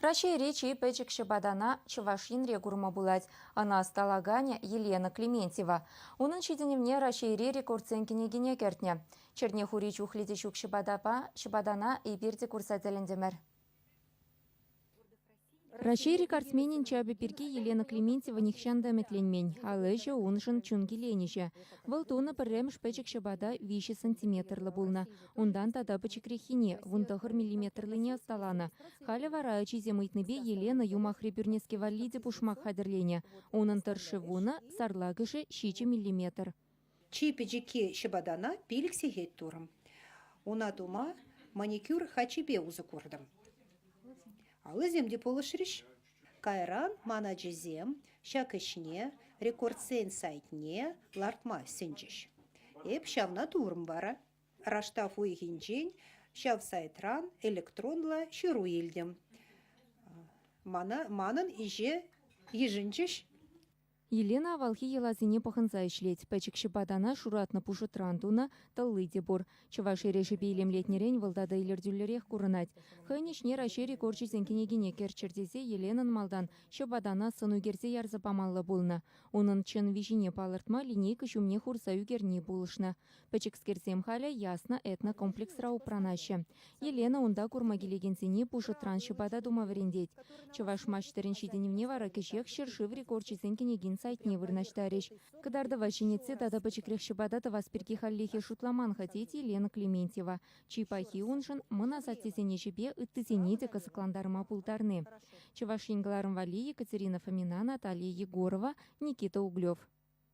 Раҫҫейри чи пӗчӗк ҫӑпатана Чӑваш Енре курма пулать. Ӑна ӑсталаканӗ Елена Клементьева. Унӑн ҫитӗнӗвне Раҫҫейри рекордсен кӗнекине кӗртнӗ. Черне хури чухлӗ те ҫук ҫӑпатапа ҫӑпатана эпир те курса тӗлӗнтӗмӗр. Раҫҫей рекордсменӗн чапӗ пирки Елена Клементьева нихҫан та ӗмӗтленмен. Ал ӗҫӗ уншӑн чун киленӗҫӗ. Вӑл тунӑ пӗрремӗш пӗчӗк ҫӑпата виҫӗ сантиметрлӑ пулнӑ. Унтан тата пӗчӗкреххине, вун тӑхӑр миллиметрлине ӑсталанӑ. Халӗ вара ачисем ыйтнипе Елена юмахри пӳрнеске валли те пушмак хатӗрленӗ. Унӑн тӑршши вунӑ, сарлакӑшӗ ҫичӗ миллиметр. Чи пӗчӗкки ҫӑпатана пилӗк сехет турӑм. Уна тума маникюр хачипе усӑ куртӑм. Аллисем те пулӑшрӗҫ. Кайран ман ачисем ҫак ӗҫне рекордсен сайтне лартма сӗнчӗҫ. Эп ҫавна турӑм вара. Раштав уйӑхӗнчен ҫав сайтран электронлӑ ҫыру илтӗм. Манӑн ӗҫе йышӑнчӗҫ. Елена авалхи йӑласене пӑхӑнса ӗҫлет. Пӗчӗк ҫӑпатана шуратнӑ пушӑтран тунӑ тӑлли те пур. Чӑваш эрешӗпе илемлетнӗрен вӑл тата илӗртӳллӗрех курӑнать. Хӑйӗн ӗҫне Раҫҫей рекорчӗсен кӗнекине кӗрччӗр тесе Еленӑн малтан ҫӑпатана сӑн ӳкерсе ярса памалла пулнӑ. Унӑн чӑн виҫине палӑртма линейка ҫумне хурса ӳкерни пулӑшнӑ. Пӗчӗкскерсем халӗ Яснӑ этнокомплексра упранаҫҫӗ. Елена унта курма килекенсене пушӑтран ҫӑпата тума вӗрентет. Чӑваш маҫтӑрӗн ҫитӗнӗвне вара кӗҫех ҫӗршыв рекорчӗсен кӗнекин сайтне вырнаҫтарӗҫ. Кӑтартӑва ҫӗнетсе тата пӗчӗкрех ҫӑпата тӑвас пирки хальлӗхе шутламан-ха тет Елена Клементьева. Чи пахи уншӑн мӑн асаттесен ӗҫӗпе ыттисене те кӑсӑклантарма пултарни. Чӑваш Ен кӑларӑм валли Екатерина Фомина, Наталья Егорова, Никита Углев.